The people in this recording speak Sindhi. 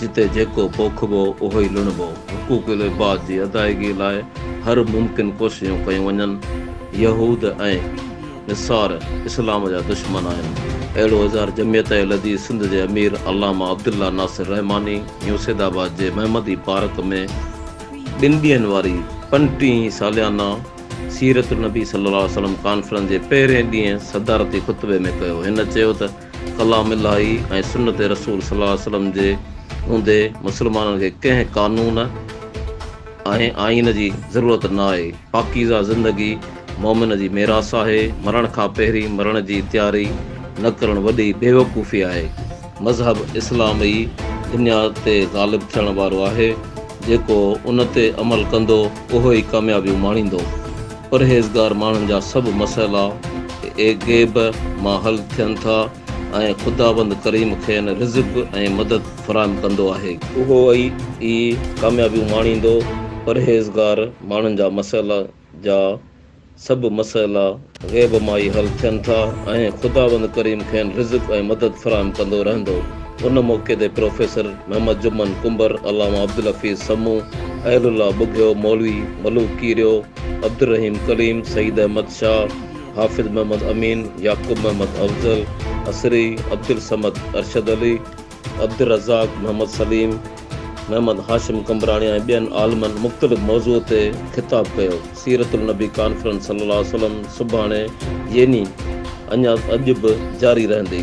جتي جيڪو پوکبو اهو ئي لڻبو، حقوق العباد جي ادائيگي لاء هر ممڪن ڪوششون ڪيون وڃن، يهود ۽ نصار اسلام جا دشمن آهن، اهڙو اظهار جمعيت اهلحديث سنڌ جي امير علامه عبدالله ناصر رحماني يو سيد آباد جي محمدي پارڪ ۾ ٻن ڏينهن واري پنجٽيهين ساليانه سيرت النبي صلي الله عليه وسلم ڪانفرنس جي پهرين ڏينهن صدارتي خطبي ۾ ڪيو، هن چيو ته. ڪلام الاھي ۽ سنت رسول صلي الله عليه وسلم جي اوندي مسلمانن کي ڪنهن قانون ۽ آئين جي ضرورت نه آهي. پاڪيزه زندگي مؤمن جي ميراث آهي. مرڻ کان پهرين مرڻ جي تياري نه ڪرڻ وڏي بيوقوفي آهي. مذهب اسلام ئي دنيا تي غالب ٿيڻ وارو آهي. جيڪو ان تي عمل ڪندو اهو ئي ڪاميابيون ماڻيندو. پرهيزگار ماڻهن جا سڀ مسئلا اي غيب مان حل ٿين ٿا ۽ خداوند ڪريم کين رزق ۽ مدد فراهم ڪندو آهي. اهو ئي ڪاميابيون ماڻيندو. پرهيزگار ماڻهن جا مسئلا جا سڀ مسئلا غيب مان ئي حل ٿين ٿا ۽ خداوند ڪريم کين رزق ۽ مدد فراهم ڪندو رهندو. ان موقعي تي پروفيسر محمد جمن ڪنڀر، علامه عبدالحفيظ سمون، اهل الله ٻگهيو، مولوي ملوڪ ڪيريو، عبدالرحيم ڪليم، سعيد احمد شاهه، حافظ محمد امين، يعقوب محمد افضل عصري، عبدالصمد ارشد علي، عبدالرزاق محمد سليم، محمد هاشم قمبراڻي ۽ ٻين عالمن مختلف موضوع تي خطاب ڪيو. سيرت النبي ڪانفرنس صلي الله عليه وسلم سڀاڻي يني اڃا اڄ به جاري رهندي.